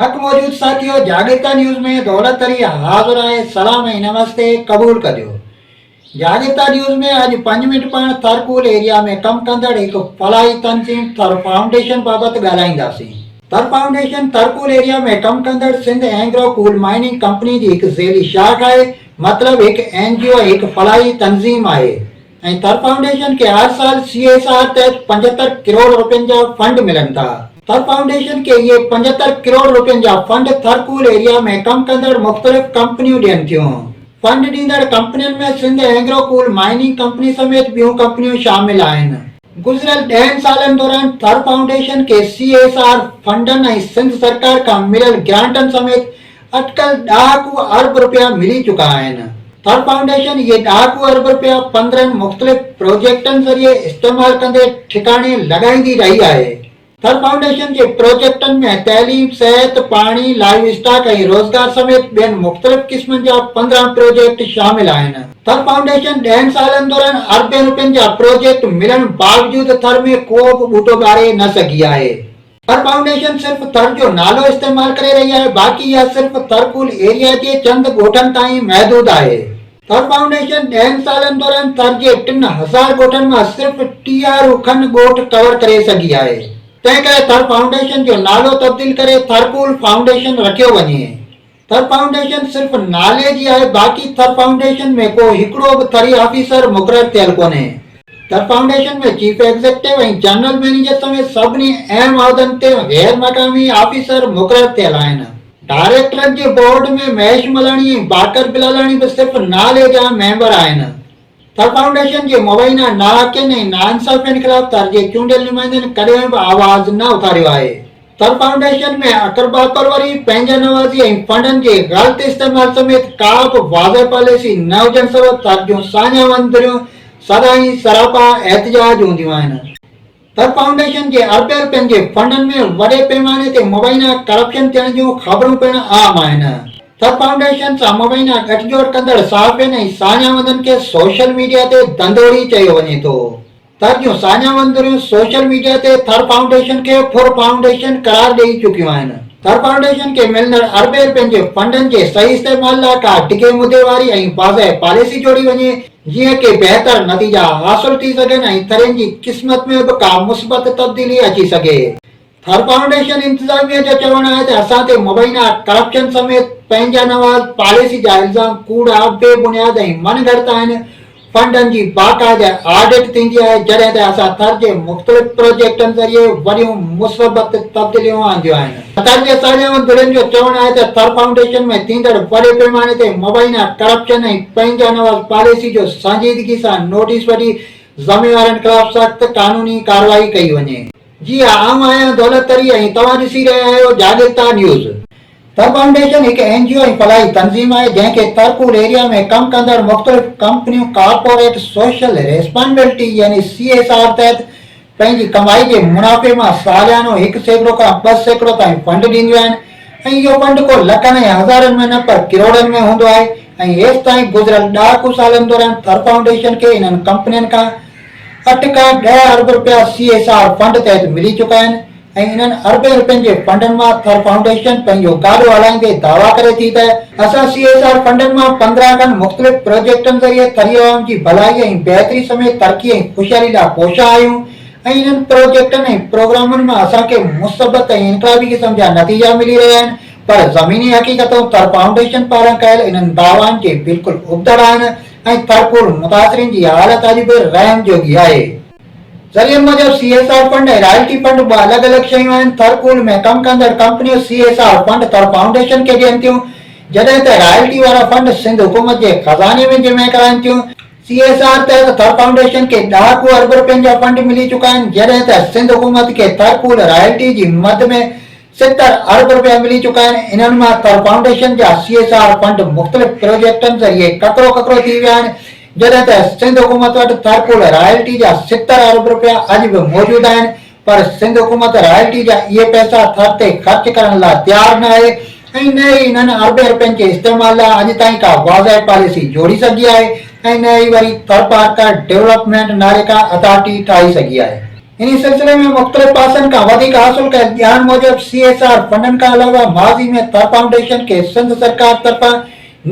حق موجود ساٿيو جاڳرتا نيوز ۾ دولت علي حاضر آهي سلام ۽ نمستي قبول ڪجو جاڳرتا نيوز ۾ اڄ پنج منٽ پاڻ ٿر ڪول ايريا ۾ ڪم ڪندڙ هڪ فلاحي تنظيم ٿر فائونڊيشن بابت ڳالهائينداسين Thar Foundation Thar coal area ۾ ڪم ڪندڙ Sindh Engro coal mining company جي هڪ ذيلي شاخ آهي مطلب هڪ اين جي او هڪ فلاحي تنظيم آهي. ۽ ٿر فائونڊيشن کي هر سال سي ايس آر تحت پنجهتر ڪروڙ رپين جا فنڊ ملن ٿا. ٿر فائونڊيشن کي اهي پنجهتر ڪروڙ رپين جا فنڊ ٿر ڪول ايريا ۾ ڪم ڪندڙ مختلف ڪمپنيون ڏين ٿيون. فنڊ ڏيندڙ ڪمپنين ۾ Sindh Engro coal mining company سميت ٻيون ڪمپنيون شامل آهن. گذريل ڏهن سالن دوران ٿر فائونڊيشن کي سي ايس آر فنڊن ۽ سنڌ سرڪار کان مليل گرانٽن سميت اٽڪل ڏهاڪو ارب رپيا ملي چڪا آهن. ٿر فائونڊيشن اهي ڏهاڪو ارب رپيا پندرهن مختلف پروجيڪٽن ذريعي استعمال ڪندي ٺڪاڻي لڳائيندي رهي آهي. ٿر فائونڊيشن جي پروجيڪٽن ۾ تعليم، صحت، پاڻي، لائيو اسٽاڪ ۽ روزگار سميت ٻين مختلف قسمن جا پندرهن پروجيڪٽ شامل آهن. ٿر فائونڊيشن ڏهن سالن دوران اربين رپين جا پروجيڪٽ ملڻ باوجود ٿر ۾ ڪو به ٻوٽو ٻاري نه سگهي آهي. پر فائونڊيشن صرف ٿر جو نالو استعمال ڪري رهي آهي باقي اها صرف ٿر پول ايريا جي چند ڳوٺن تائين محدود آهي. ٿر فائونڊيشن ڏهن سالن دوران ٿر جي ٽن هزار ڳوٺن مان صرف ٽيهارو کن ڳوٺ ڪور ڪري سگهي آهي تنهن ڪري ٿر فائونڊيشن جو نالو تبديل ڪري ٿر پول فائونڊيشن رکيو وڃي. ٿر فائونڊيشن صرف نالي جي آهي باقي ٿر فائونڊيشن ۾ ڪو هڪڙو به ٿري آفيسر مقرر ٿيل ڪونهي. Thar Foundation ۾ chief executive ۽ general manager سميت سڀني اهم عهدن تي غير مقامي آفيسر مقرر ٿيل آهن. ڊائريڪٽرن جي بورڊ ۾ مهيش ملاڻي ۽ باقر بلالاڻي به صرف نالي جا ميمبر آهن. ٿر فائونڊيشن جي مبينا ناحقين ۽ ناانصافين خلاف ٿر جي چونڊيل نمائندن ڪڏهن به آواز نه اٿاريو آهي. ٿر فائونڊيشن ۾ اقربا پروري، پنهنجا نوازي ۽ فنڊن جي غلط استعمال سميت ڪا به واضح پاليسي نه هجڻ سبب ٿر جون ساڃاهه وندريون سدائين سراپا احتجاج هونديون آهن. ته فائونڊيشن جي اربين رپين جي فنڊن ۾ وڏي پيماني تي مبينا ڪرپشن ٿيڻ جون خبرون پڻ عام آهن ته فائونڊيشن سان مبينا ڳٺجوڙ ڪندڙ صحافين ۽ ساڃاهوندن کي سوشل ميڊيا تي ڌنڌوڙي چيو وڃي ٿو ته جون ساڃاهوندريون سوشل ميڊيا تي ٿر فائونڊيشن کي ڦر فائونڊيشن قرار ڏئي چڪيون آهن. ٿر فائونڊيشن کي ملندڙ اربين رپين جي فنڊن جي صحيح استعمال لاء ڪا ڊگهي مدي واري ۽ واضح پاليسي جوڙي وڃي، جيئن ڪي بهتر نتيجا حاصل ٿي سگهن ۽ ٿرين جي قسمت ۾ به ڪا مثبت تبديلي اچي سگهي. ٿر فائونڊيشن انتظاميه جو چوڻ آهي ته اسان تي مبينا ڪرپشن سميت پنهنجا نواز پاليسي جا الزام ڪوڙا، بي بنياد ۽ من گهڙت آهن، فنڊن جي باقاعده آڊٽ ٿيندي آهي جڏهن ته اسان ٿر جي مختلف پروجيڪٽن ذريعي وڏيون مثبت تبديليون آنديون آهن. حقاني اساجي مندرين جو چوڻ آهي ته ٿر فائونڊيشن ۾ ٿيندڙ وڏي پيماني تي مبينا ڪرپشن ۽ پنهنجا نواز پاليسي جو سنجيدگي سان نوٽيس وٺي ذميوارن خلاف سخت قانوني ڪارروائي ڪئي وڃي. جي ها آئون آهيان دولت تري ۽ توهان ڏسي رهيا آهيو جاڳرتا نيوز. ٿر فائونڊيشن هڪ اين جي او ۽ فلاحي تنظيم آهي جنهن کي ٿر پور ايريا ۾ ڪم ڪندڙ مختلف ڪمپنيون ڪارپوريٽ سوشل ريسپانڊلٽي يعني سي ايس آر تحت پنهنجي ڪمائي جي منافعي مان ساليانو هڪ سيڪڙو کان ٻه سيڪڙو تائين فنڊ ڏينديون آهن ۽ اهو فنڊ ڪو لکن ۽ هزارن ۾ نه پر ڪروڙن ۾ هوندو آهي ۽ هيستائين گذريل ڏهاڪو سالن دوران ٿر فائونڊيشن کي انهن ڪمپنين کان اٺ کان ڏهه ارب رپيا سي ايس آر فنڊ تحت ملي چڪا آهن ۽ انهن اربين رپين جي فنڊن مان ٿر فائونڊيشن پنهنجو گاڏو هلائيندي دعويٰ ڪري ٿي ته اسان سي ايس آر فنڊن مان پندرهن کن مختلف پروجيڪٽن ذريعي ٿري عوام جي ڀلائي ۽ بهتري سميت ترقي ۽ خوشحالي لاء ڪوشان آهيون ۽ انهن پروجيڪٽن ۽ پروگرامن مان اسان کي مثبت ۽ انقلابي قسم جا نتيجا ملي رهيا آهن پر زميني حقيقتون ٿر فائونڊيشن پاران ڪيل انهن دعوائن جي بلڪل ابتڙ آهن ۽ ٿر پول متاثرين جي حالت اڄ به رحم جوڳي آهي. ذريعن موجب C S R fund ۽ royalty fund ٻه الڳ الڳ شيون آهن، ٿر پول ۾ ڪم ڪندڙ ڪمپنيون C S R fund Thar Foundation کي ڏين ٿيون، جڏهن ته رائلٽي وارا فنڊ سنڌ حڪومت جي خزاني ۾ جمع ڪرائن ٿيون. سي ايس آر تحت ٿر فائونڊيشن کي ڏهاڪو ارب رپين جا فنڊ ملي چڪا آهن، جڏهن ته سنڌ حڪومت کي ٿر پول رائلٽي جي مد ۾ ستر ارب رپيا ملي چڪا آهن، انهن مان ٿر فائونڊيشن جا سي ايس آر فنڊ مختلف پروجيڪٽن ذريعي ڪڪرو ڪڪرو ٿي ويا آهن، جڏهن ته سنڌ حڪومت وٽ ٿر پول رائلٽي جا ستر ارب رپيا اڄ به موجود آهن پر سنڌ حڪومت رائلٽي جا اهي پئسا ٿر تي خرچ ڪرڻ لاء تيار نه آهي ۽ نه ئي انهن اربين رپين جي استعمال لاء اڄ تائين ڪا واضح پاليسي جوڙي سگهي آهي ۽ نه ئي وري ٿرپارڪر ڊولپمينٽ نالي ڪا اٿارٽي ٺاهي سگهي آهي. انهي سلسلي ۾ مختلف پاسن کان وڌيڪ حاصل ڪيل ڄاڻ موجب سي ايس آر فنڊن کان علاوه ماضي ۾ ٿر فائونڊيشن کي سنڌ سرڪار طرفان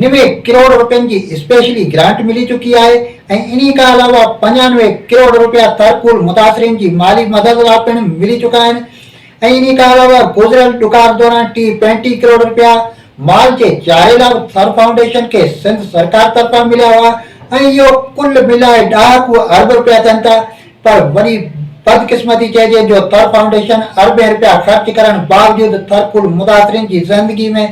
نوي ڪروڙ روپين جي اسپيشلي گرانٽ ملي چڪي آهي ۽ انهي کان علاوه پنجانوي ڪروڙ روپيا ٿر ڪول متاثرين جي مالي مدد لا پڻ ملي چڪا آهن ۽ انهي کان علاوه گذريل ڏڪار دوران ٽي پينٽي ڪروڙ روپيا مال جي چاري لا به ٿر فائونڊيشن کي سنڌ سرڪار طرفان مليا هئا ۽ اهو ڪل ملائي ڏهاڪو ارب روپيا ٿين ٿا پر وڏي بدقسمتي چئجي جو ٿر فائونڊيشن اربين رپيا خرچ ڪرڻ باوجود ٿر پول متاثرين جي زندگي ۾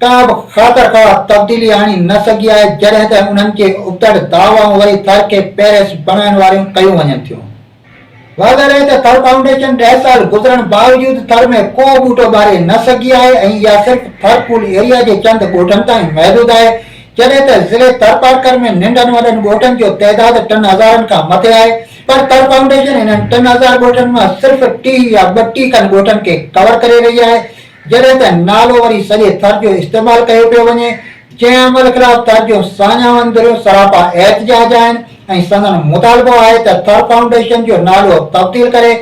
ڪا به خاطر خواهه تبديلي آڻي نه سگهي آهي جڏهن ته انهن جي ابتڙ دعوائون وري ٿر کي پيرس بڻائڻ واريون ڪيون وڃن ٿيون. واضح رهي ته ٿر فائونڊيشن ڏهه سال گذرڻ باوجود ٿر ۾ ڪو ٻوٽو ٻاري نه سگهي آهي ۽ اها صرف ٿر پول ايريا جي چند ڳوٺن تائين محدود آهي جڏهن ته ضلعي ٿرپارڪر ۾ ننڍن وڏن ڳوٺن جو تعداد ٽن هزارن کان مٿي آهي پر ٿر فائونڊيشن انهن ٽن هزار ڳوٺن مان صرف ٽيهه يا ٻٽيهه کن ڳوٺن کي ڪور ڪري رهي آهي جڏهن ته نالو وري سڄي ٿر جو استعمال ڪيو پيو وڃي جنهن عمل خلاف ٿر جون ساڃاهن ڌريون سراپا احتجاج آهن ۽ سندن مطالبو آهي ته ٿر فائونڊيشن جو نالو تبديل ڪري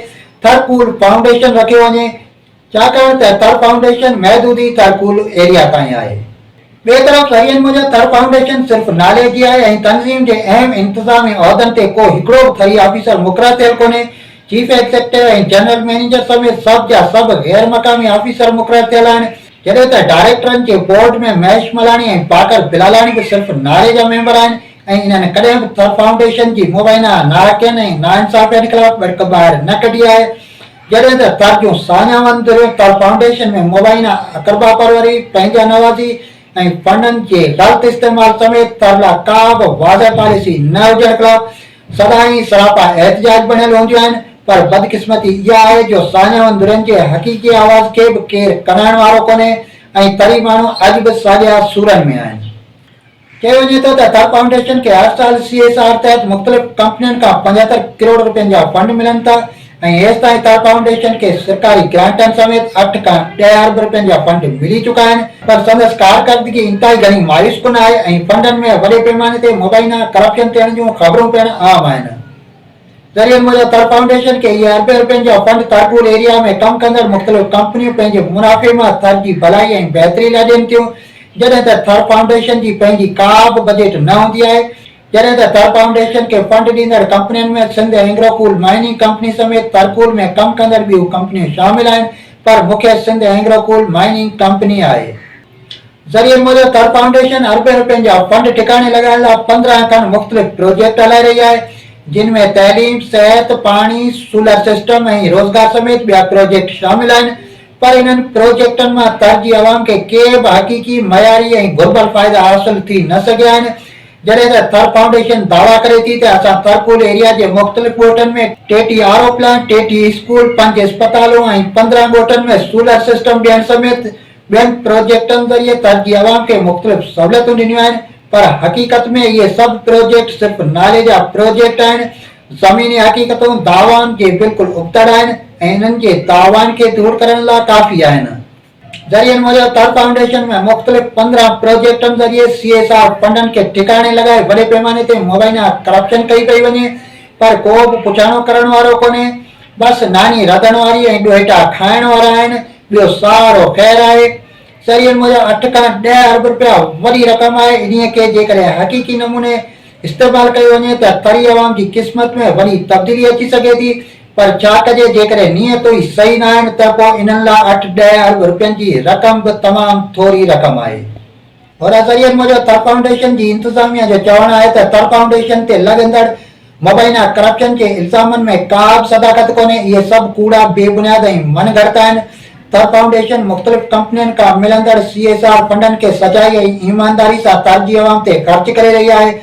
ٿر پول فائونڊيشن رکيو وڃي ڇاڪاڻ ته ٿر فائونڊيشن محدودي ٿر پول ايريا تائين آهي. ٻئي طرف شهرين موجب ٿر فائونڊيشن صرف نالي جي آهي ۽ تنظيم جي اهم انتظامي عهدن تي ڪو هڪڙو به ٿري آفيسر مقرر ٿيل ڪونهي، چيف ايگزيڪٽو ۽ جنرل مئنيجر سميت سڀ جا سڀ غير مقامي آفيسر مقرر ٿيل آهن، جڏهن ته ڊائريڪٽرن جي بورڊ ۾ مهيش ملاڻي ۽ باقر بلالاڻي به صرف نالي جا ميمبر آهن ۽ انهن ڪڏهن به ٿر فائونڊيشن جي مبينا ناحقين ۽ ناانصافين خلاف ٻڙڪ ٻاهر نه ڪڍي آهي. جڏهن ته ترجيون سانيا ون دريو تل فائونڊيشن ۾ مبينا اقربا پروري، پنهنجا نوازي ۽ فنڊن جي غلط استعمال سميت تر لا ڪا به واضح پاليسي نه هجڻ خلاف سدائين سراپا احتجاج بڻيل هونديون آهن پر بدقسمتي اها آهي جو سانيا ون درين جي حقيقي آواز کي به ڪير ڪنائڻ وارو ڪونهي ۽ تري ماڻهو اڄ به ساڳيا سورن ۾ آهن. چيو وڃي ٿو ته اطهر فائونڊيشن کي هر سال سي ايس آر تحت مختلف ڪمپنين کان پنجهتر ڪروڙ رپين جا فنڊ ملن ٿا ۽ هيستائين اطهر فائونڊيشن کي سرڪاري گرانٽن سميت اٺ کان ڏهه ارب رپين جا فنڊ ملي چڪا آهن پر سندس ڪارڪردگي انتهائي گهڻي مايوس ڪن آهي ۽ فنڊن ۾ وڏي پيماني تي مبينا ڪرپشن ٿيڻ جون خبرون پڻ عام آهن. ذريعن موجب تر فائونڊيشن کي اهي اربين رپين جا فنڊ ترپور ايريا ۾ ڪم ڪندڙ مختلف ڪمپنيون پنهنجي منافعي مان ٿر جي ڀلائي ۽ بهتري لاء ڏين ٿيون جڏهن ته ٿر فائونڊيشن جي پنهنجي ڪا به بجيٽ نه هوندي آهي جڏهن ته ٿر فائونڊيشن کي فنڊ ڏيندڙ ڪمپنين ۾ Sindh Engro coal mining company سميت ترپور ۾ ڪم ڪندڙ ٻيون ڪمپنيون شامل آهن پر مکيه Sindh Engro coal mining company آهي. ذريعن موجب ٿر فائونڊيشن اربين رپين جا فنڊ ٺڪاڻي لڳائڻ لا پندرهن کن مختلف پروجيڪٽ هلائي رهي آهي جن ۾ تعليم، صحت، پاڻي، سولر سسٽم ۽ روزگار سميت ٻيا پروجيڪٽ شامل آهن پر انهن پروجيڪٽن مان ٿر جي عوام کي ڪي به حقيقي، معياري ۽ گهربل فائدا حاصل ٿي نه سگهيا آهن جڏهن ته ٿر فائونڊيشن دعويٰ ڪري ٿي ته اسان ٿرپول ايريا جي مختلف ڳوٺن ۾ ٽيٽي آر او پلانٽ، ٽيٽي اسڪول، پنج اسپتالون ۽ پندرهن ڳوٺن ۾ سولر سسٽم ڏيڻ سميت ٻين پروجيڪٽن ذريعي تر جي عوام کي مختلف سهوليتون ڏنيون آهن پر حقيقت ۾ اهي سڀ پروجيڪٽ صرف نالي جا پروجيڪٽ آهن، زميني حقيقتون دعوائن جي بلڪل ابتڙ آهن ۽ انهن جي دعوائن کي دور ڪرڻ لاء ڪافي آهن. ذريعن موجب تر فائونڊيشن ۾ مختلف پندرهن پروجيڪٽن ذريعي سي ايس آر فنڊن کي ٺڪاڻي لڳائي وڏي پيماني تي مبينا ڪرپشن ڪئي پئي وڃي پر ڪو به پڇاڻو ڪرڻ وارو ڪونهي، بس ناني رڌڻ واري ۽ ڏوهيٽا کائڻ وارا آهن، ٻيو سارو خير آهي. سرين موجب اٺ کان ڏهه ارب رپيا وڏي رقم آهي، انهيء کي جيڪڏهن حقيقي نموني استعمال ڪيو وڃي ته ٿري عوام جي قسمت ۾ وڏي تبديلي اچي سگهي ٿي، پر ڇا ڪجي جيڪڏهن نيتون ئي صحيح ناهن ته پوء انهن لاء اٺ ڏهه ارب رپين جي رقم به تمام ٿوري رقم آهي. هن ذريعن موجب ٿر فائونڊيشن جي انتظاميا جو چوڻ آهي ته ٿر فائونڊيشن تي لڳندڙ مبينا ڪرپشن جي الزامن ۾ ڪابه صداقت ڪونهي، اهي سڀ ڪوڙا، بي بنياد ۽ من گهڙت آهن، ٿر فائونڊيشن مختلف ڪمپنين کان ملندڙ سي ايس آر فنڊن کي سچائي ۽ ايمانداري سان ٿر جي عوام تي خرچ ڪري رهي آهي،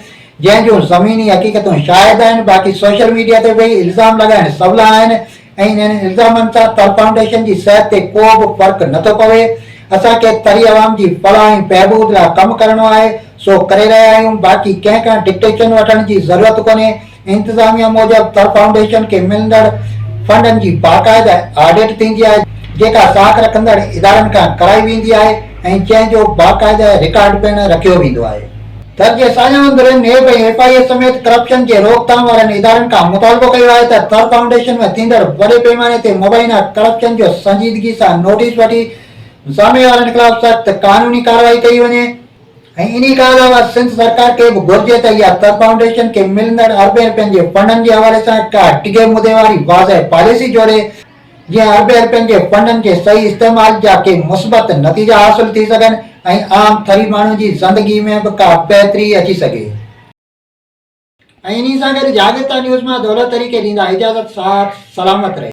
جنهن جون زميني حقيقتون شاهد آهن، باقي سوشل ميڊيا تي به الزام لڳائڻ سولا آهن، ۽ انهن الزامن سان تر فائونڊيشن جي صحت تي ڪو به فرق نه ٿو پوي، اسان کي تري عوام جي فلاح ۽ بهبود لاء ڪم ڪرڻو آهي، سو ڪري رهيا آهيون، باقي ڪنهن کان ڊڪٽيشن وٺڻ جي ضرورت ڪونهي، انتظاميا موجب تر فائونڊيشن کي ملندڙ فنڊن جي باقاعده آڊٽ ٿيندي آهي، جيڪا ساک رکندڙ ادارن کان ڪرائي ويندي آهي ۽ جنهن جو باقاعده رڪارڊ پڻ رکيو ويندو آهي. ٿر جي ساڃاهه ڌرين نيب ۽ ايف آء اي سميت ڪرپشن جي روڪٿام وارن ادارن کان مطالبو ڪيو آهي ته ٿر فائونڊيشن ۾ ٿيندڙ وڏي پيماني تي مبينا ڪرپشن جو سنجيدگي سان نوٽيس وٺي ضامي وارن خلاف سخت قانوني ڪارروائي ڪئي وڃي ۽ انهي کان علاوه سنڌ سرڪار کي به گهرجي ته اها ٿر فائونڊيشن کي ملندڙ اربين رپين جي فنڊن جي حوالي سان ڪا ڊگهي مدي واري واضح پاليسي جوڙي جيئن هر ڀير پنهنجي فنڊن جي صحيح استعمال جا ڪي مثبت نتيجا حاصل ٿي سگهن ۽ عام ٿري ماڻهن جي زندگي ۾ به ڪا بهتري اچي سگهي. ۽ انهي سان گڏ جاڳرتا نيوز مان دولت طريقي ڏيندا اجازت ساٿ سلامت رهي.